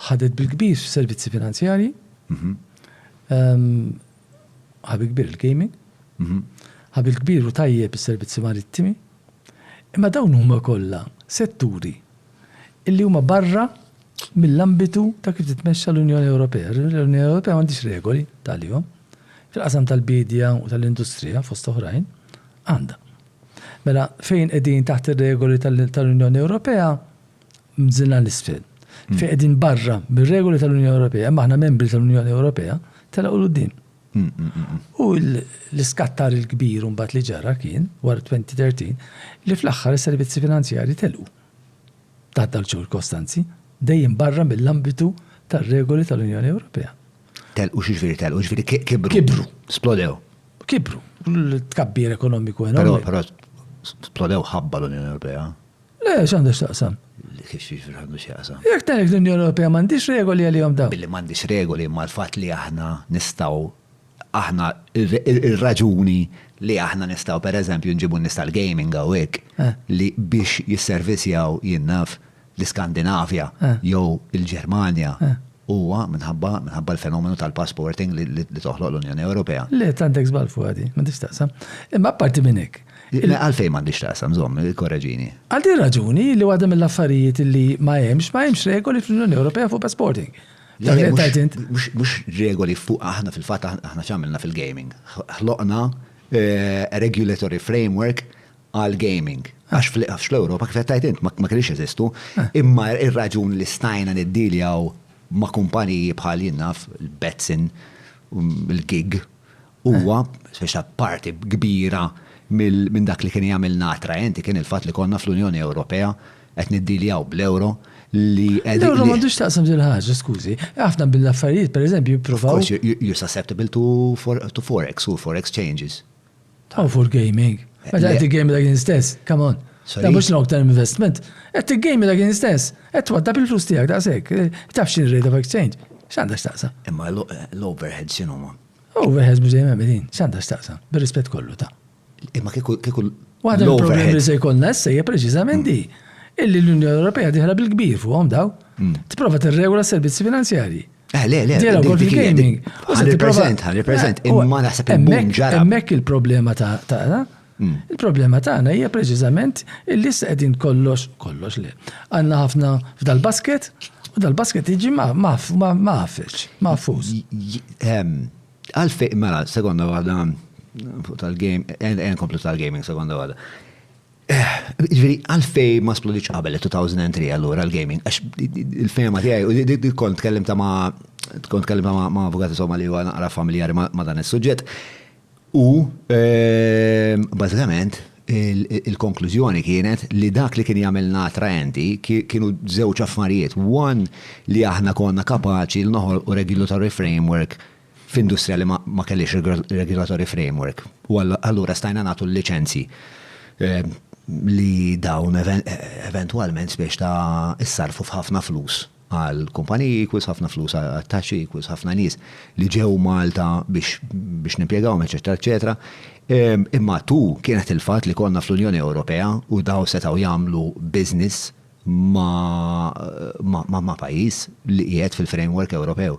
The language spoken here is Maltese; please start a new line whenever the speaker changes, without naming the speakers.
Ħadet bil-kbir f'servizzi finanzjarji. Ħabi kbir il-gaming. Ħabi l-kbir u tajjeb is-servizzi marittimi. Imma dawn huma kollha setturi illi huma barra mill-ambitu ta' kif titmexxa l-Unjoni Ewropea. L-Unjoni Ewropea m'għandhiex regoli tal-jom. Fil-qasam tal-biedja u tal-industrija fost oħrajn għandha. Mela fejn qegħdin taħt ir-regoli tal-Unjoni Ewropea mżinha 'l isfel, fejn qegħdin barra mir-regoli tal-Unjoni Ewropea, imma aħna membri tal-Unjoni Ewropea, telgħu 'l quddiem. U l-iskattar il-kbir imbagħad li ġara kien, wara 2013, li fl-aħħar is-servizzi finanzjarji telqu taħt dawn iċ-ċirkostanzi, dejjem barra mill-ambitu tar-regoli tal-Unjoni Ewropea. Telqu x'jiġifieri telqu? Jiġifieri kibru. Kibru. Splodew. Kibru. L-tkabbir ekonomiku enormi. Però, però, splodew ħabba l-Unjoni Ewropea. Le, x'għandu x'taqsam? Kif xiex għandu x'jaqsam? Jekk tgħid l-Unjoni Ewropea m'għandix regoli għalihom dawn. Billi m'għandix regoli imma l-fatt li aħna nistgħu aħna ir-raġuni li aħna nistgħu pereżempju nġibu n-nies tal-gaming hawnhekk li biex jisservisjaw jien naf l-Iskandinavja jew il-Ġermanja huwa minħabba minħabba l-fenomenu tal-passporting li toħloq l-Unjoni Ewropea. Le, tant hekk żball fuqha din, m'għandix x'taqsam. Imma apparti minn hekk, Għalfejn m'għandix taqsam, żomm, korreġini. Għal din raġuni li waħda mill-affarijiet li ma hemmx, ma hemmx regoli fl-Unjoni Ewropea fuq passporting. Mhux regoli fuq aħna fil-fatt aħna x'għamilna fil-gaming. Ħloqna eh, regulatory framework għal gaming. Għax fl-Ewropa kif qed int ma kellix eżistu, eh. imma ir-raġun li stajna niddiljaw ma' kumpaniji bħal jinnaf il-Betsin, mm, il-gig, Huwa, speċa parti kbira minn dak li kien jagħmilna attraenti kien il-fatt li konna fl-Unjoni Ewropea qed niddiljaw bl-euro li qed. L-euro m'għandux taqsam din ħaġa, skużi. Ħafna mill-affarijiet, pereżempju, jippruvaw. You're susceptible to forex u forex changes. Oh, for gaming. Meta qed game dak stess, come on. Ta' mhux long term investment. Qed game dak stess. Qed twaddab il-flus tiegħek daqshekk. Tafx il-rate of exchange. X'għandha x'taqsam? Imma l-overheads x'inhuma? Overheads b'żejjem hemm din, x'għandha x'taqsam, bir-rispett kollu ta'. Imma kieku kieku Waħda mill-problemi li se jkollna issa hija preċiżament di. Illi l-Unjoni Ewropea diħla bil-kbir fuqhom daw. Tipprova tirregola s-servizzi finanzjarji. Eh, le, le, Diela wkoll fil-gaming. Ħan represent, ħan represent, imma naħseb il-boom ġara. Hemmhekk il-problema ta' ta' Il-problema tagħna hija preċiżament illi issa qegħdin kollox, kollox le. Għandna ħafna f'dal-basket u dal-basket jiġi mafex, mafuż. Għalfej, mela, sekonda waħda fuq tal-game, en komplu tal-gaming sekonda waħda. Eh, ġviri, għalfej ma splodiċ qabel 2003 għallura l-gaming, għax il-fema tijaj, u di kont tkellim ta' ma' kont tkellim ta' ma' avukati somma li għu naqra familjari ma' dan il-sujġet. U, bażikament, il-konklużjoni kienet li dak li kien jagħmilna attraenti kienu żewġ affarijiet. One, li aħna konna kapaċi li noħolqu regulatory framework f'industrija li ma kellhiex regulatory framework. U allura stajna nagħtu l-liċenzji li dawn eventwalment spiċċaw issarrfu f'ħafna flus. għall-kumpaniji equals ħafna flus għat-taxxi equals ħafna nies li ġew Malta biex biex nimpjegawhom eċċetera eċċetera. Imma tu kienet il-fatt li konna fl-Unjoni Ewropea u daw setgħu jagħmlu business ma ma ma pajjiż li qiegħed fil-framework Ewropew.